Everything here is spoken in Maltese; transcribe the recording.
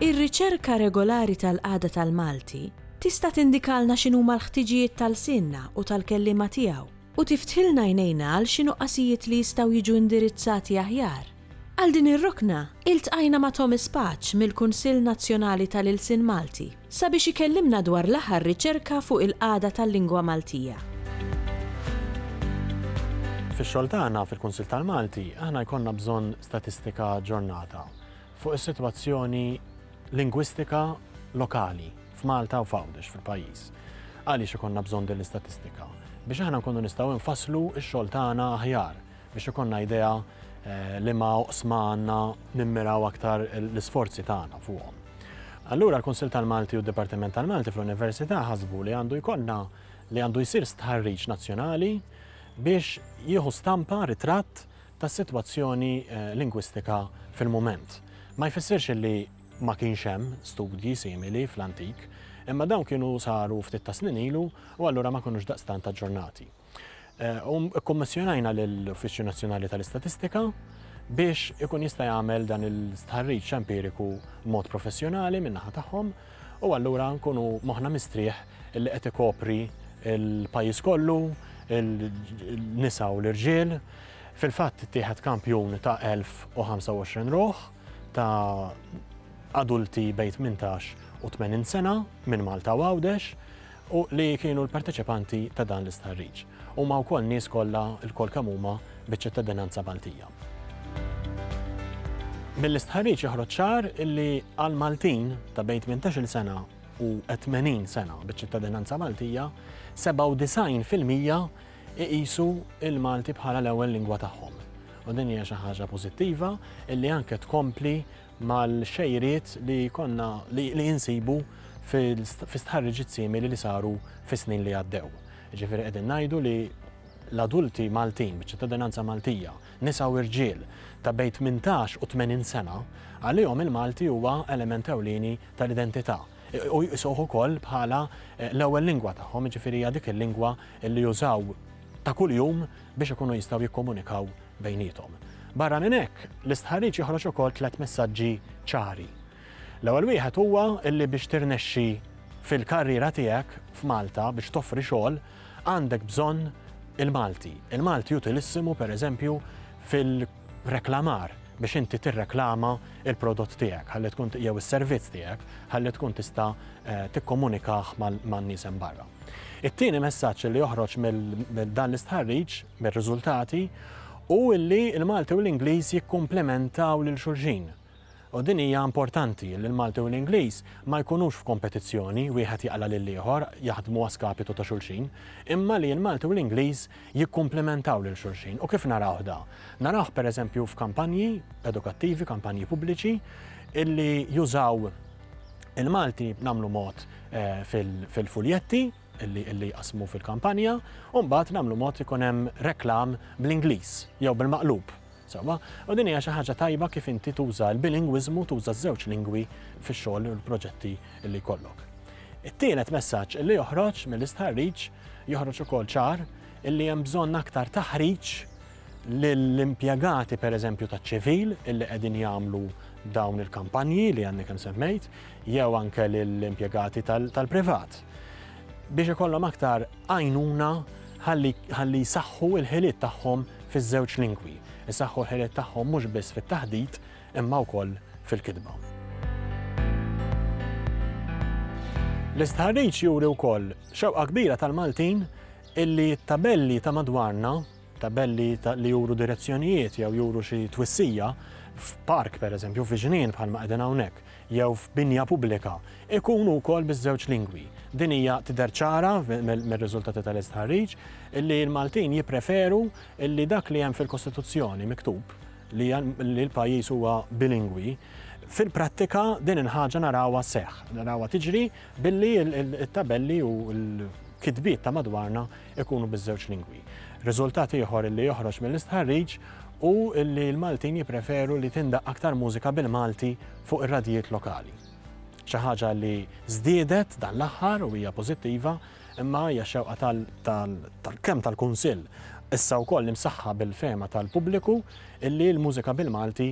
Ir-riċerka regolari tal-qagħda tal-Malti tista' tindikalna x'inhuma l-ħtiġijiet ta' lsienna u tal-kelliema tiegħu u tiftħilna għajnejna għal xi nuqqasijiet li jistgħu jiġu indirizzati aħjar. Għal din ir-rokna, iltqajna ma' Thomas Paċ mill-Kunsill Nazzjonali tal-Ilsien Malti sabiex ikellimna dwar l-aħħar riċerka fuq il-qagħda tal-lingwa Maltija. Fix-xogħol tagħna fil-Kunsill tal-Malti, aħna jkollna bżonn statistika aġġornata fuq is-sitwazzjoni lingwistika lokali f'Malta u f'Għawdex fil-pajjiż. Għaliex ikollna bżonn din l-istatistika? Biex aħna nkunu nistgħu nfasslu x-xogħol tagħna aħjar. Biex ikollna idea liema oqsma għandna nimmiraw aktar l-isforzi tagħna fuqhom. Allura l-Kunsill tal-Malti u d-Dipartiment tal-Malti fl-Università ħasbu li għandu jkollna li għandu jsir stħarriġ nazzjonali biex jieħu stampa ritratt tas-sitwazzjoni eh, lingwistika fil-mument. Ma jfissirx li ma kienx hemm studji simili fl-antik, imma dawn kienu saru ftit ta' snin ilu u allura ma kunux daqstant aġġornati. Eh, u kkommissjonajna lill-Uffiċċju Nazzjonali tal-Istatistika biex ikun jista' jagħmel dan il-stħarriġ empiriku mod professjonali min-naħa tagħhom u allura nkunu moħna mistrieħ li qed ikopri il-pajjiż kollu, il-nisa u l-irġiel. Fil-fatt tieħed kampjun ta' 1025 ruħ ta' adulti bejn 18 u 80 sena minn Malta u Għawdex u li kienu l-parteċipanti ta' dan l-istħarriġ. Huma wkoll nies kollha lkoll kemm huma biċ-ċittadinanza Maltija. Mill-istħarriġ joħroġ ċar li għal Maltin ta' bejn 18-il sena u 80 sena biċ-ċittadinanza Maltija, 97% iqisu il-Malti bħala l-ewwel lingwa tagħhom. U din hija xi ħaġa pożittiva illi anke tkompli mal-xejriet li konna li insibu fi stħarriġiet simili li saru fis-snin li għaddew. Jiġifieri qegħdin ngħidu li l-adulti Maltin biċ-ċittadinanza Maltija, nisa u irġiel ta' bejn tmintax u tmenin sena, għalihom il-Malti huwa element ewlieni tal-identità u jqisuh ukoll bħala l-ewwel lingwa tagħhom, jiġifieri hija dik il-lingwa li jużaw ta' kuljum biex ikunu jistgħu jikkomunikaw bejniethom. Barra minn hekk, l-istħarriġ joħroġ ukoll tliet messaġġi ċari. L-ewwel wieħed huwa li biex tirnexxi fil-karriera tiegħek f'Malta biex toffri xogħol għandek bżonn il-Malti. Il-Malti utilissimu pereżempju fil-reklamar biex inti tirreklama il-prodott tiegħek, ħalli tkun jew is-servizz tiegħek, ħalli tkun tista' eh, tikkomunikah man-nies hemm barra. It-tieni messaġġ li joħroġ minn dan l-istħarriġ, mir-riżultati, hu li l-Malti u l-Ingliż jikkumplementaw lil xulxin. U din hija importanti li l-Malti u l-Ingliż ma jkunux f'kompetizzjoni wieħed jaqla' lill-ieħor jaħdmu a skapitu ta' xulxin, imma li l-Malti u l-Ingliż jikkumplementaw lil xulxin. U kif narawh da? Narawh pereżempju f'kampanji edukattivi, kampanji pubbliċi, illi jużaw il-Malti nagħmlu mod fil-fuljetti illi jqassmu fil-kampanja, u mbagħad nagħmlu mod li jkun hemm reklam bl-Ingliż jew bil-maqlub. Sewwa, u din hija xi ħaġa tajba kif inti tuża l-bilingwiżmu tuża ż-żewġ lingwi fix-xogħol u l-proġetti li jkollok. It-tielet messaġġ illi joħroġ mill-istħarriġ joħroġ ukoll ċar illi hemm bżonn aktar taħriġ lill-impjegati pereżempju taċ-ċivil illi qegħdin jagħmlu dawn il-kampanji li għandni kemm semmejt, jew anke lill-impjegati tal-privat biex ikollhom aktar għajnuna ħalli jsaħħu l-ħiliet tagħhom fiż-żewġ lingwi, jsaħħu l-ħiliet tagħhom mhux biss fit-taħdit imma wkoll fil-kitba. L-istħarriġ juri wkoll xewqa kbira tal-Maltin illi t-tabelli ta' madwarna Tabelli li juru direzzjonijiet jew juru xi twissija f'park pereżempju, fi ġnien bħalma qegħdin hawnhekk, jew f'binja pubblika, ikunu wkoll biż-żewġ lingwi. Din hija tidher ċara mir-riżultati tal-istħarriġ li l-Maltin jippreferu li dak li hemm fil-Kostituzzjoni miktub li l-pajjiż huwa bilingwi fil-prattika din il-ħaġa narawha seħ, narawha tiġri billi il-tabelli u l-kitbiet ta' madwarna ikunu biż-żewġ lingwi. Riżultat ieħor li joħroġ mill-istħarriġ hu li l-Maltin jippreferu li tindaq aktar mużika bil-Malti fuq ir-radjijiet lokali. Xi ħaġa li żdiedet dan l-aħħar u hija pożittiva imma hija xewqa tal-kemm tal-Kunsill issa wkoll imsaħħa bil-fehma tal-pubbliku illi l-mużika bil-Malti